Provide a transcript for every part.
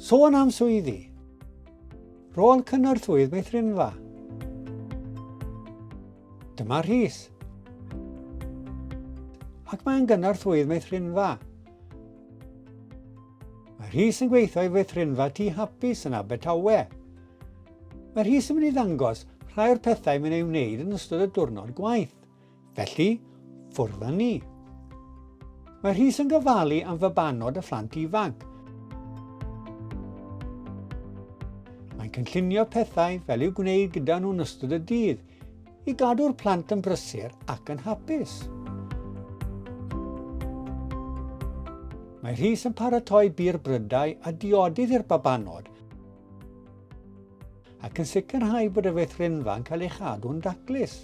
Sôn am swyddi. Rôl cynorthwydd meithrinfa. Dyma Rhys. Ac mae'n gynorthwydd meithrinfa. Mae Rhys yn gweithio i feithrinfa tu hapus yn Abertawe. Mae Rhys yn mynd i ddangos rhai o'r pethau mae'n ei wneud yn ystod y diwrnod gwaith, Felly, ffwrdd â ni. Mae Rhys yn gofalu am fabanod y phlant ifanc. Mae'n cynllunio pethau fel i'w gwneud gyda nhw'n ystod y dydd i gadw'r plant yn brysur ac yn hapus. Mae Rhys yn paratoi bir brydau a diodydd i'r babanod ac yn sicrhau bod y feithrinfa'n cael ei chadw'n daclus.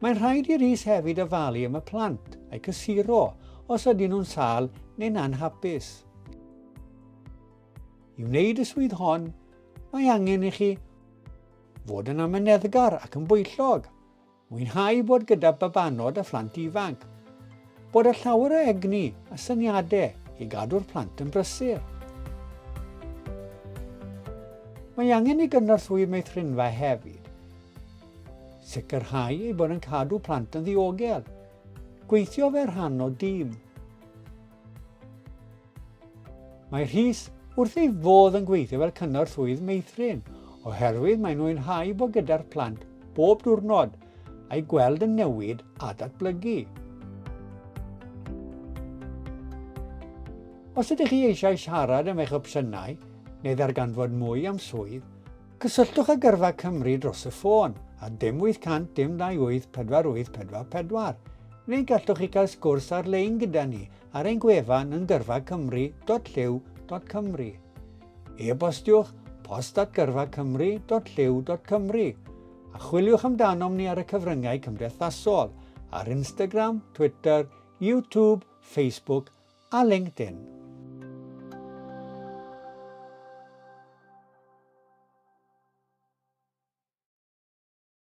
Mae'n rhaid i'r is hefyd ofalu am y plant a'i cysuro os ydyn nhw'n sal neu'n anhapus. I wneud y swydd hon, mae angen i chi fod yn amyneddgar ac yn bwyllog. Mwynhau bod gyda babanod a phlant ifanc. Bod â llawer o egni a syniadau i gadw'r plant yn brysur. Mae angen i gynorthwy meithrinfa hefyd sicrhau ei bod yn cadw plant yn ddiogel, gweithio fe rhan o dîm, Mae Rhys wrth ei fodd yn gweithio fel cynorthwyydd meithrin oherwydd mae'n mwynhau bod gyda'r plant bob diwrnod a'i gweld yn newid a datblygu. Os ydych chi eisiau siarad am eich opsiynau neu ddarganfod mwy am swydd, cysylltwch â Gyrfa Cymru dros y ffôn ar dim 800 dim 28 4844 neu gallwch chi gael sgwrs ar-lein gyda ni ar ein gwefan yn gyrfacymru.llyw.cymru. E-bostiwch post at gyrfacymru.llyw.cymru a chwiliwch amdanom ni ar y cyfryngau cymdeithasol ar Instagram, Twitter, YouTube, Facebook a LinkedIn.